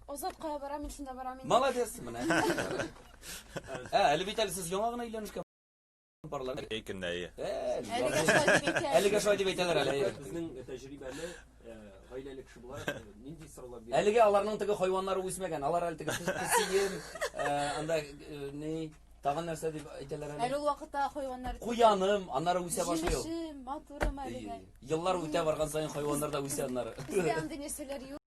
Азат кая бара, мин шунда барам инде. Молодец, менә. Ә, әле бит әле сез яңа гына өйләнешкән парлар. Әй көннә, әй. Әлегә шулай дип әйтәләр әле. Безнең тәҗрибәле гаиләле кеше буларак нинди сорауга бирә? Әлегә аларның теге хайваннары үсмәгән. Алар әле теге песием, анда ни Тагын нәрсә дип әйтәләр әле? Әле ул вакытта хайваннар Куяным, аннары үсә башлый ул. Җимешем, матурым әле. Еллар үтә барган саен хайваннар да үсә аннары. Андый нәрсәләр юк.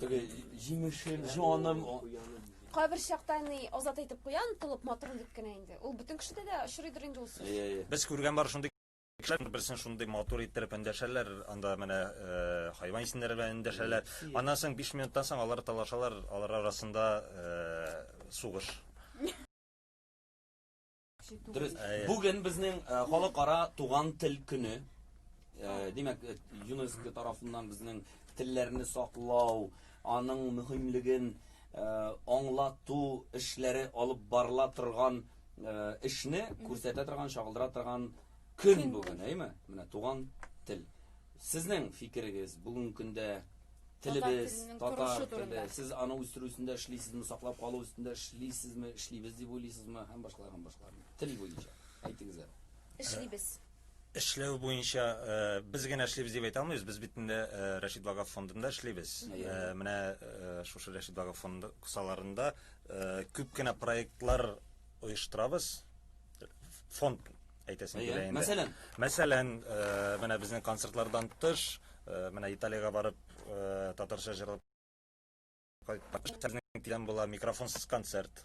Теге җимешен, җаным. Кайбер чакта ни азат әйтеп куя, онытылып матурын дип кенә инде. Ул бөтен кешедә дә очрыйдыр инде ул сүз. Әйе. Без күргән бар шундый кешеләр берсен шундый матур иттереп эндәшәләр, анда менә э, хайван исемнәре белән эндәшәләр. Аннан соң 5 минуттан соң алар талашалар, алар арасында э, сугыш. Дөрес. Бүген безнең э, халыкара туган тел көне. Э, димәк, э, ЮНЕСКО тарафыннан безнең телләрне саклау, аның мөһимлеген аңлату эшләре алып барыла торган эшне күрсәтә торган, чагылдыра торган көн бүген, әйме? Менә туган тел. Сезнең фикерегез бүген көндә Телебез, татар теле, сез аны үстерү өстендә эшлисезме, саклап калу өстендә эшлисезме, эшлибез дип уйлыйсызмы һәм башкалар һәм башкалар. Тел буенча әйтегез әле. Эшлибез. Эшләү буенча э, без генә эшлибез дип әйтә алмыйбыз. Без бит инде э, Рәшид Багаф фондында эшлибез. Э, менә шушы Рәшид Багаф фонды кысаларында күп кенә проектлар оештырабыз. Фонд Әйтәсем килә инде. Мәсәлән, мәсәлән, менә безнең концертлардан тыш, менә Италиягә барып, татарча җырлап кайткан тирән була микрофонсыз концерт.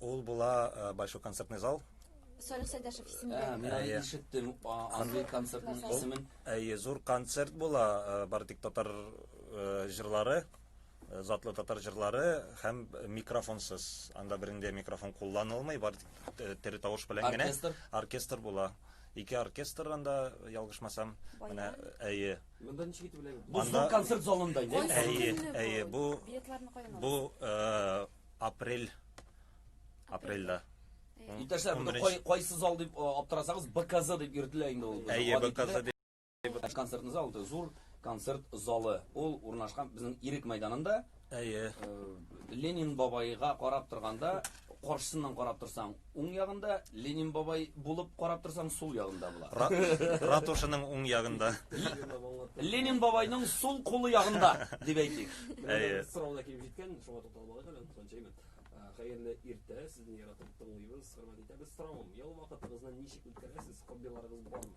Ул була большой концертный зал. Салих Сәйдәшев исемендә. Мин аны ишеттем. Андый концертның исемен. Әйе, зур концерт була, бары тик татар җырлары. затлы татар җырлары һәм микрофонсыз. Анда берендә микрофон кулланылмый, бар тере тавыш белән генә оркестр, оркестр була. Ике оркестр анда ялгышмасам, менә әйе. Монда ничек итеп беләм? Бу зур концерт залында иде. Әйе, әйе, бу бу э, апрель апрельдә. Иптәшләр, кайсы зал дип э, аптырасагыз, БКЗ дип йөртелә инде ул. Әйе, БКЗ Концертный зал это зур концерт залы. Ул урнашкан безнең Ирек мәйданында. Әйе. Э, Ленин бабайга карап торганда, каршысыннан карап торсаң, уң ягында, Ленин бабай булып карап торсаң, сул ягында була. Ратушының уң ягында. Ленин бабайның сул кулы ягында, дип әйтик. Әйе. Сорау да килеп җиткән, шуңа тукталып алыйк әле, Ханчаймин. Э, хәерле иртә, сезне яратып тыңлыйбыз, хөрмәт итәбез. Соравым, ял вакытыгызны ничек үткәрәсез, хоббиларыгыз бармы?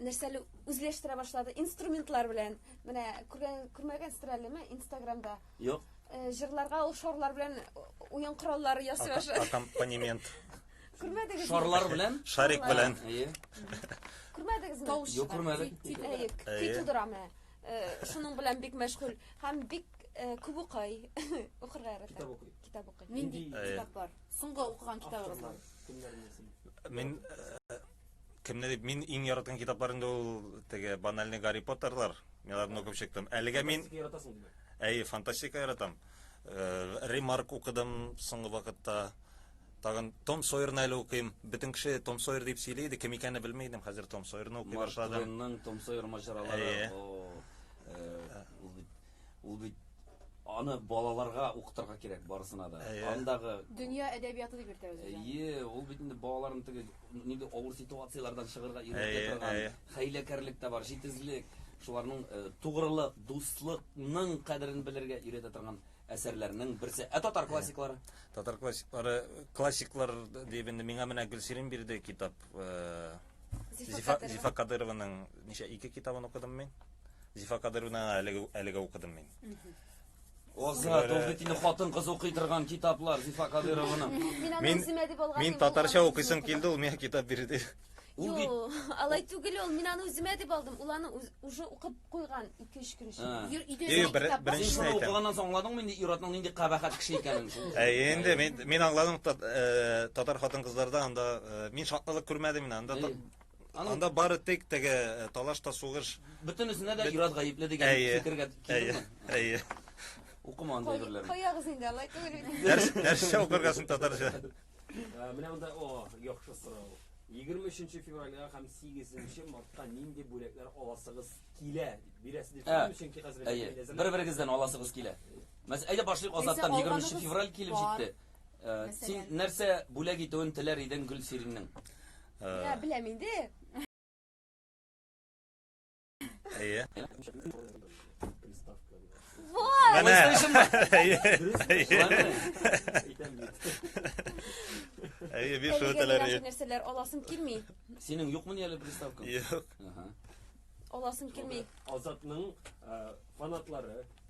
нәрсәле үзләштерә башлады инструментлар белән менә күргән күрмәгәнсездер әлеме инстаграмда юк җырларга ул шарлар белән уен кораллары ясый башлады аккомпанемент күрмәдегез шарлар белән шарик белән күрмәдегезме тавыш юк күрмәдек көй тудыра менә шуның белән бик мәшгуль һәм бик күп укый укырга ярата китап укый китап укый нинди китаплар соңгы укыган китабыгыз бар мин Кемне дип мин иң яраткан китаплар инде ул теге банальный Гарри Поттерлар. Мин аларны укып чыктым. Әлегә мин Фантастика яратасың димәк. Әй, фантастика яратам. Э, Ремарк укыдым соңгы вакытта. Тагын Том Сойерны әле укыйм. Бөтен кеше Том Сойер дип сөйли иде, кем икәнен белми идем. Хәзер Том Сойерны укый Марк башладым. Твенның Том Сойер маҗаралары. Әйе. О, э, ул бит Ул бит аны балаларга укытырга кирәк барысына да. Әйе. Андагы Дөнья әдәбияты дип йөртә үзен. Әйе, ул бит инде балаларын теге нинди авыр ситуацияләрдән чыгарга Әйе, өйрәтә торган әйе. хәйләкәрлек тә бар, җитезлек, шуларның э, тугрылык, дуслыкның кадерен белергә өйрәтә торган әсәрләрнең берсе. Ә татар классиклары? Татар классиклары, классиклар дип инде миңа менә Гөлсирин бирде китап. э, Зифа Зифа Кадыйрованың ничә ике китабын укыдым мин. Зифа Кадыровна әлеге әлеге укыдым мин. Оза, Долгытины хатын кыз укый торган китаплар Зифа Кадыровның. Мин аны Мин- үземә дип алган. Мин татарча укыйсым килде, ул миңа китап бирде. Ул бит Юк, алай түгел ул. Мин аны үземә дип алдым. Ул аны үз- уже укып куйган 2-3 көн эчендә. Ә. Йөр- Өйдә Йө, йөргән бер- китап бар. беренче- Син шуны укыганнан соң аңладыңмы инде ир-атның нинди кабахәт кеше икәнен шул? Ә инде мин мин аңладым тат- э, татар хатын-кызларда анда э, мин шатлык күрмәдем мин анда. Әйе. Анда бары тик теге э, талаш та сугыш. Бөтенесенә дә Ираз гаепле дигән фикергә килдеңме? Әйе. Укыма анда әйберләрне. Каягыз инде, алай түгел бит. Нәрс, нәрсә укыргасың татарча? Э, менә монда, о, яхшы сорау. 23 февральгә һәм 8 мартка нинди бүләкләр аласыгыз килә дип бирәсез дип ә, чөнки хәзер әйе бер-берегездән аласыгыз килә мәсәлән әйдә башлыйк азаттан 23 февраль килеп җитте ә, син нәрсә бүләк итүен теләр идең гөлсириннең Ә, беләм инде. Әйе. Вот. Менә. Әйе, биш Әлегә үтәләр. миңа нәрсәләр аласым килми. Синең юкмы ни әле приставка? Юк. Аласым килми. Азатның фанатлары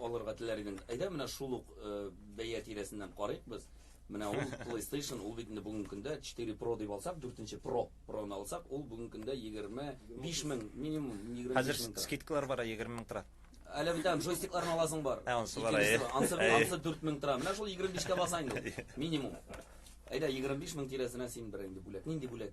алырга теләр идең, әйдә менә шул ук бәя тирәсеннән карыйк без. Менә ул PlayStation, ул бит инде бүгенге көндә 4 Pro дип алсак, дүртенче Pro, Pro-ны алсак, ул бүгенге көндә 25 мең, минимум 25 мең тора. Хәзер скидкалар бара, 20 мең тора. Әле бит аны джойстикларны аласың бар. Ә, ансы бар, әйе. Ансы, ансы 4 мең тора. Менә шул 25 кә баса инде, минимум. Әйдә, 25 мең тирәсенә син бер инде бүләк. Нинди бүләк?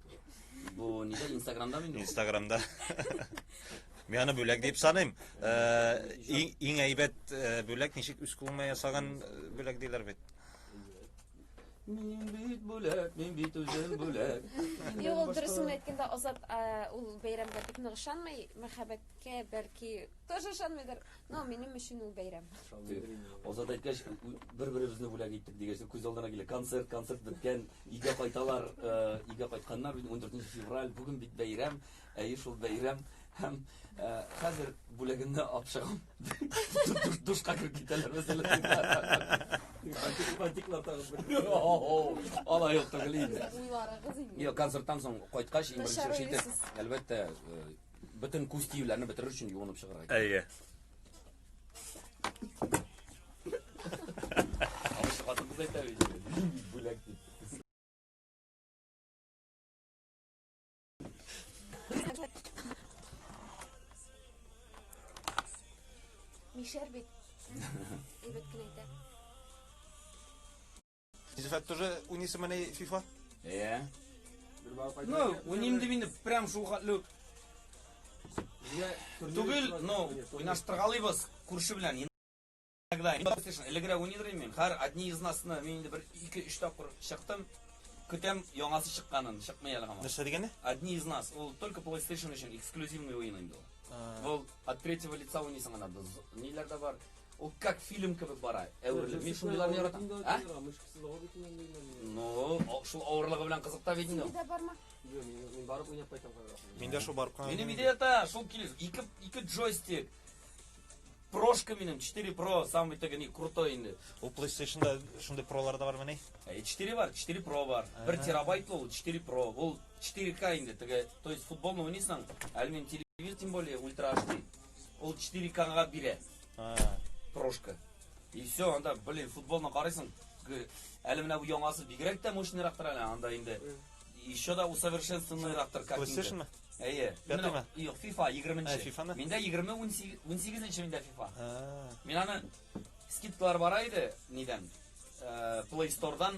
Бу нидә Инстаграмда мин? Инстаграмда. Мин аны бүләк дип саныйм. Иң әйбәт бүләк ничек үз кулыңа ясаган бүләк диләр бит. Мин бит бүләк, мин бит үзем бүләк. Юк, ул дөресен әйткәндә Азат ул бәйрәмгә бик нык ышанмый. Мәхәббәткә бәлки Тоже ышанмыйдыр, но минем өчен ул бәйрәм. Азат әйткәч, бер-беребезне бүләк иттек дигәч, күз алдына килә. Концерт, концерт беткән, өйгә кайталар, өйгә кайтканнар, 14 февраль, бүген бит бәйрәм, әйе шул бәйрәм, һәм хәзер бүләгемне алып чыгам. Душка кереп китәләр мәсәлән. Фантиклар тагып бер. Алай ук түгел инде. Уйларыгыз инде. Юк, концерттан соң кайткач, иң беренче эш итеп, әлбәттә, Бөтен күз тиюләрне бетерер өчен юынып чыгарга кирәк. Әйе. Хатыныбыз әйтә бит. Бүләк дип. Мишәр бит. Әйбәт кенә әйтә. Зифат тоже унисы менә FIFA? Иә. Ну, уйним дип инде прям шул хәтле үк. Түгел, ну, уйнаштыргалыйбыз күрше белән. Иногда элегрәк уйныйдыр мин. Хәр одни из нас мин инде бер 2-3 тапкыр чыктым. Көтәм яңасы чыкканын, чыкмый әле һаман. Нәрсә дигәне? Одни из нас. Ул только PlayStation өчен эксклюзивный уен инде ул. Ул от третьего лица уйныйсың анда. Ниләрдә бар? Ул как фильм кебек бара, әверелеп. Мин шундыйларны яратам. А? Ну, шул авырлыгы белән кызыкта бит инде. Синдә барма? Юк, мин барып уйнап кайтам. Миндә шул барып кайтам. Минем идея та, шул килеш, ике ике джойстик. Прошка минем 4 Pro, самый тәгә ни крутой инде. Ул PlayStation-да шундый пролар да бар мени? 4 э, бар, 4 Pro бар. 1 терабайт ул 4 Pro. Ул 4К инде тәгә, то есть футболны уйныйсың, әлмин телевизор тем более ультра HD. Ул 4 кага бирә. А. Прошка. И все, анда, блин, футболны карыйсың. Әле менә бу яңасы бигрәк тә мощныйрак тора әле анда инде. Еще да усовершенствованныйрак тор, как инде. Слышишь Әйе. Пятыймы? Юк, FIFA 20-нче. Ә, FIFA-ны? Миндә 20 18-нче миндә FIFA. Мин аны скидкалар бара иде, нидән? Э, Play Store-дан